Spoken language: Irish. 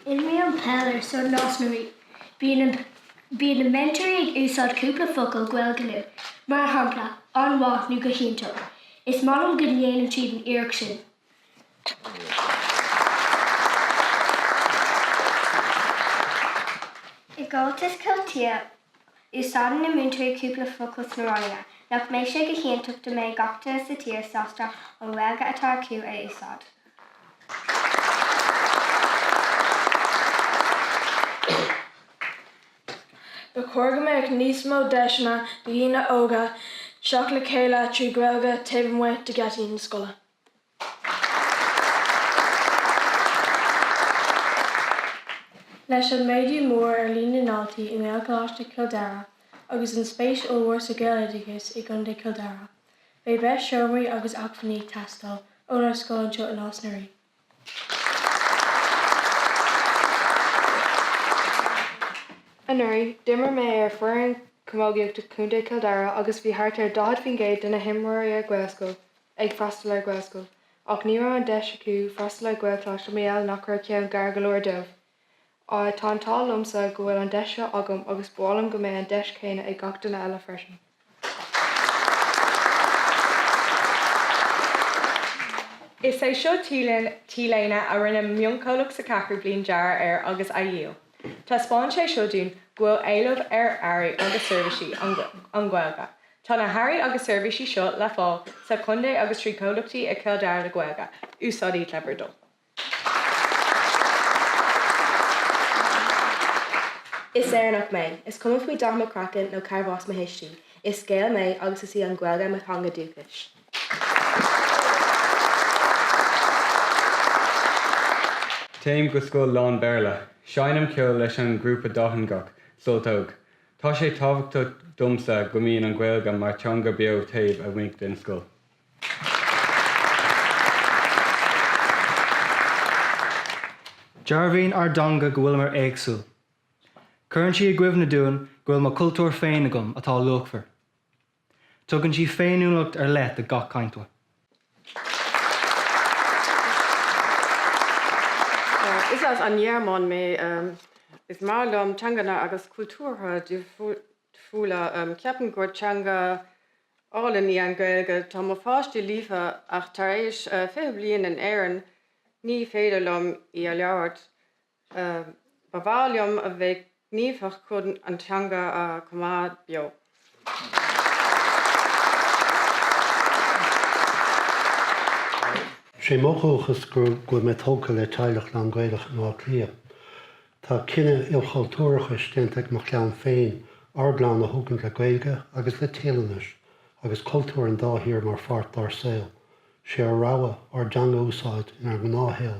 Imrím peil ar son Nás na Rí. Bíonn na meantóirí ag úsáid cúpla focal Gaeilge linn, mar shampla, an-mhaith nó go hiontach. Is maith liom go ndéanann siad an iarracht sin. I gComhaltas Ceoltóirí, Úsáideann na múinteoirí cúpla focal sna ranganna. Nach mbeidh sé go hiontach dá mbeidh gach duine sa tír sásta an Ghaeilge atá acu a úsáid? Ba chóir go mbeadh níos mó deiseanna do dhaoine óga teacht le chéile trí Ghaeilge taobh amuigh de gheataí na scoile. Leis an méadú mór ar líon na ndaltaí i nGaelcholáiste Chill Dara agus an spéis ollmhór sa Ghaeloideachas i gContae Chill Dara, beidh breis seomraí agus acmhainní ag teastáil ónár scoil anseo i Nás na Rí. Anuraidh, d'imir mé ar fhoireann camógaíochta Chontae Chill Dara agus bhí thart ar 40% de na himreoirí ar Ghaelscoil ag freastal ar Ghaelscoil ach ní raibh an deis acu freastal ar Ghaelcholáiste mar gheall nach raibh ceann gar go leor dóibh. Tá an t-ádh liomsa go bhfuil an deis seo agam agus ba mhaith liom go mbeidh an deis chéanna ag gach duine eile freisin. Is é seo T-léine a rinne mionchomhlacht sa cheathrú bliain dearadh air agus a dhíol. Taispeánann sé seo dúinn go bhfuil éileamh ar earraí agus seirbhísí an Ghaeilge Tá na hearraí agus seirbhísí seo le fáil sa chontae agus trí comhlachtaí i Cill Dara le Gaeilge. Úsáid iad le bhur dtoil. Is Éireannach mé. Is cuma faoi dath mo chraicinn nó cárb as mo thuistí. Is Gael mé agus is í an Ghaeilge mo theanga dúchais. Téim go scoil lán-Bhéarla. Seinnim ceol leis an ngrúpa dátheangach, Sult Óg. Tá sé tábhachtach domsa go mbíonn an Ghaeilge mar theanga beo taobh amuigh den scoil. Dearbhaíonn ár dteanga go bhfuil muid éagsúil. Cuireann sí i gcuimhne dúinn go bhfuil mo chultúr féin agam atá luachmhar. Tugann sí féiniúlacht ar leith do gach cainteoir. Is as an nGearmáin mé. Is maith liom teanganna agus cultúrtha difriúla. Ceapaim gur teanga álainn í an Ghaeilge. Tá mo pháistí líofa ach tar éis 20 bliain in Éirinn ní féidir liom í a labhairt. Ba bhreá liom a bheith gníomhach chun an teanga a choimeád beo. Sé mo dhóchas go bhfuil mé tógtha le teaghlach lán Gaelach in Áth Cliath. Tá cinneadh ilchultúrachais déanta ag mo chlann féin ár gclann a thógaint le Gaeilge agus le Téalainnis agus cultúir an dá thír mar pháirt dár saol. Sé ár rogha ár dteanga a úsáid inár ngnáthshaol